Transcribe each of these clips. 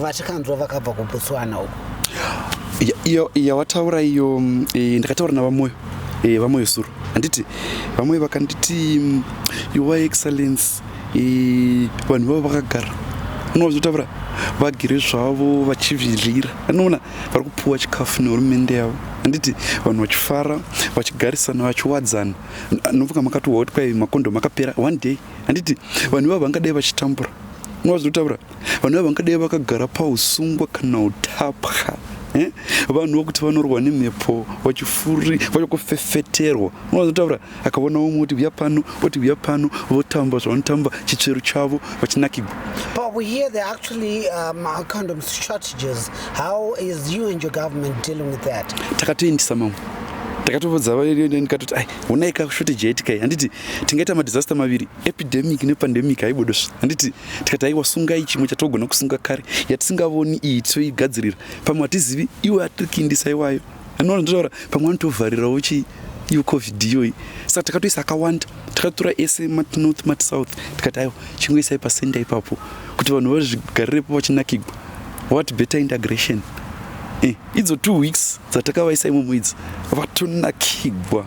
vatikanzwa vakabva kubotswana uko iyo yawataura iyo mm, eh, ndakataura navamoyo eh, vamoyo suro handiti vamoyo vakanditi mm, your excellence eh, vanhu vavo vakagara unovazotaura vagere zvavo vachivhilira anoona vari kupuwa chikafu nehurumende yavo handiti vanhu vachifara vachigarisana vachiwadzana novuka makatohwa kuti kwai makondo makapera one day handiti vanhu ivavo vangadai vachitambura unovazotaura vanhu vangadai vakagara pausungwa kana utapwa eh? vanhu vokuti vanorwa nemhepo vachifuri vachakufefeterwa unozotaura akaona umwe oti uya pano oti uya pano votamba zvavanotamba chitsveru chavo vachinakigwa but we hear the actually um, kind of strategies how is you and your government dealing with that takatoendisa mamwe takatovodza ndikatoti ai honai ka shortage yaitika handiti tingaita madisaster maviri epidemic nepandemic haibodosvi handiti tikati aiwa sungai chimwe chatogona kusunga kare yatisingavoni iyi tisoigadzirira pamwe hatizivi iwe atirikindisa iwayo anoona ndotaura pamwe anotovharirawo chii iyo covid iyoyi saka takatoisa akawanda takatora ese matnorth matsouth tikati aiwa chingoisai pasenda ipapo kuti vanhu vazvigarirepo vachinakigwa what better integration eh, idzo two weeks dzatakavaisa imomo idzo vatonakigwa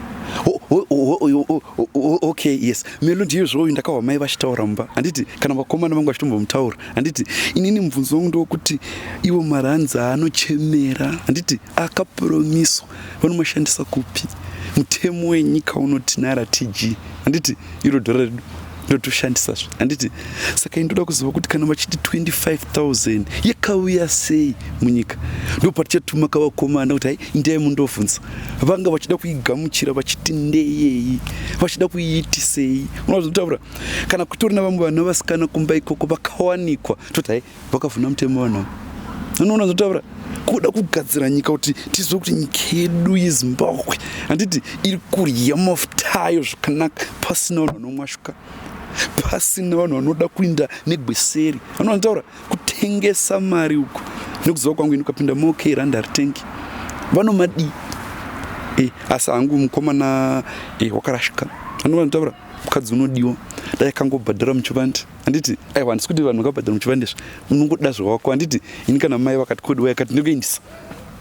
okay yes melo ndiyo zvoyo ndakahwa mai vachitaura mumba handiti kana vakomana vangu vachitombomutaura handiti inini mubvunzo wangu ndewokuti iwo maranzi aanochemera handiti akapromiswa vanomashandisa kupi mutemo wenyika unoti naira tg handiti iro dhora redu ndotoshandisa zve handiti saka indoda kuziva kuti kana vachiti 25000 yakauya sei munyika ndo patichatuma kavakomana kuti hai ndiyai mundovhunza vanga vachida kuigamuchira vachiti ndeyei vachida kuiitisei unozotaura kana kutori na vamwe vana vasikana kumba ikoko vakawanikwa toti hai vakavhuna mutemo vanhu avo anoona zvotaura kuda kugadzira nyika kuti tizive kuti nyika yedu yezimbabwe handiti iri kurya mafuta ayo zvakanaka pasina vanhu vanomwashuka pasina vanhu vanoda kuinda negweseri vanhu vanotaura kutengesa mari uko nekuziva kwangu ini ukapinda mok randa ritengi vanomadii e, asi hangu mukomana e, wakarashika vanhu vanotaura mukadzi unodiwa dai akangobhadhara muchivandi handiti aiwa handisi kuti vanhu vakabhadhara muchivandezva unongoda zvawako handiti ini kana mai vakati kodi waya kati ndikuendisa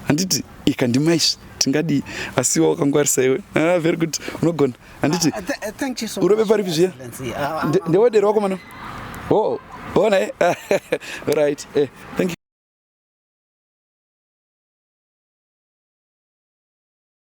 handiti ikandimaizvi tingadii asi iwa wakangwarisa iwe ah, very good unogona handiti ah, uh, urove paripi zviya ah, ah, ndewedero wako mano o oh, ona e eh? right eh, thank you